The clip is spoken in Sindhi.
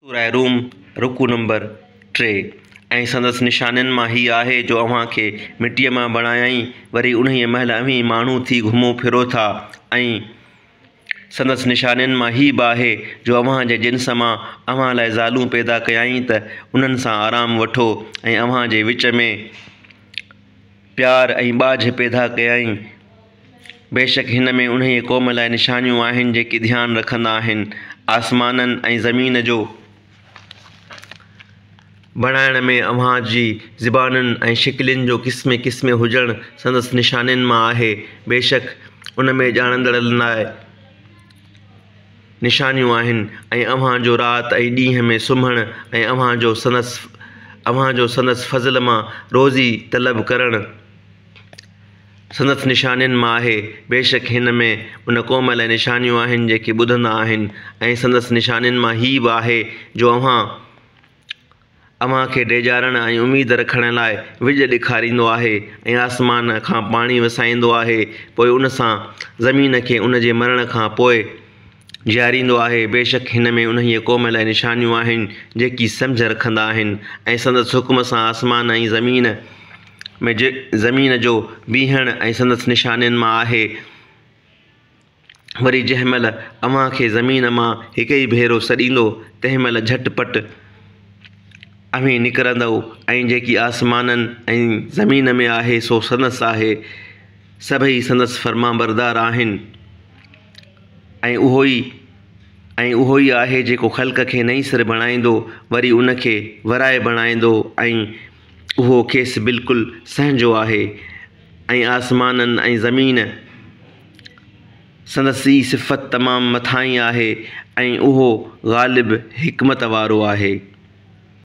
سورة روم، رڪوع نمبر ٽي، ۽ سندس نشانين مان هيء آهي جو اوهان کي مٽيء مان بڻايائين، وري انهيء مهل اوهين ماڻهو ٿي گهمو ڦرو ٿا، ۽ سندس نشانين مان هيء به آهي جو اوهان جي جنس مان اوهان لاء زالون پيدا ڪيائين ته انهن سان آرام وٺو، ۽ اوهان جي وچ ۾ پيار ۽ ٻاجهه پيدا ڪيائين. بيشڪ هن ۾ انهيء قوم لاء نشانيون آهن جيڪي ڌيان رکندا آهن آسمانن ۽ زمين جو بڻائڻ ۾ اوهان جي زبانن ۽ شڪلين جو قسمي قسمي هجڻ سندس نشانين مان آهي بيشڪ ان ۾ ڄاڻندڙن لاء نشانيون آهن ۽ اوهان جو رات ۽ ڏينهن ۾ سمهڻ ۽ اوهان جو سندس اوهان جو سندس فضل مان روزي طلب ڪرڻ سندس نشانين مان آهي. بيشڪ هن ۾ ان قوم لاء نشانيون آهن جيڪي ٻڌندا آهن ۽ سندس نشانين مان هيء به آهي جو اوهان اوهان کي ڊيڄارڻ ۽ اميد رکڻ لاء وڄ ڏيکاريندو آهي ۽ آسمان کان پاڻي وسائيندو آهي پوء ان سان زمين کي ان جي مرڻ کان پوء جياريندو آهي، بيشڪ هن ۾ انهيء قوم لاء نشانيون آهن، جيڪي سمجهه رکندا آهن ۽ سندس حڪم سان آسمان ۽ زمين ۾ زمين جو بيهڻ ۽ سندس نشانين مان آهي، وري جنهن مهل اوهان کي زمين مان هڪ ئي ڀيرو سڏيندو، تنهن مهل جهٽ پٽ اوهين نڪرندؤ ۽ جيڪي آسمانن ۽ زمين ۾ آهي سو سندس آهي، سڀئي سندس فرمانبردار آهن. ۽ اهو ئي ۽ اهو ئي آهي جيڪو خلق کي نئين سر بڻائيندو وري ان کي ورائي بڻائيندو ۽ اهو کيس بلڪل سهنجو آهي ۽ آسمانن ۽ زمين سندس ئي صفت تمام مٿاهين آهي ۽ اهو غالب حڪمت وارو آهي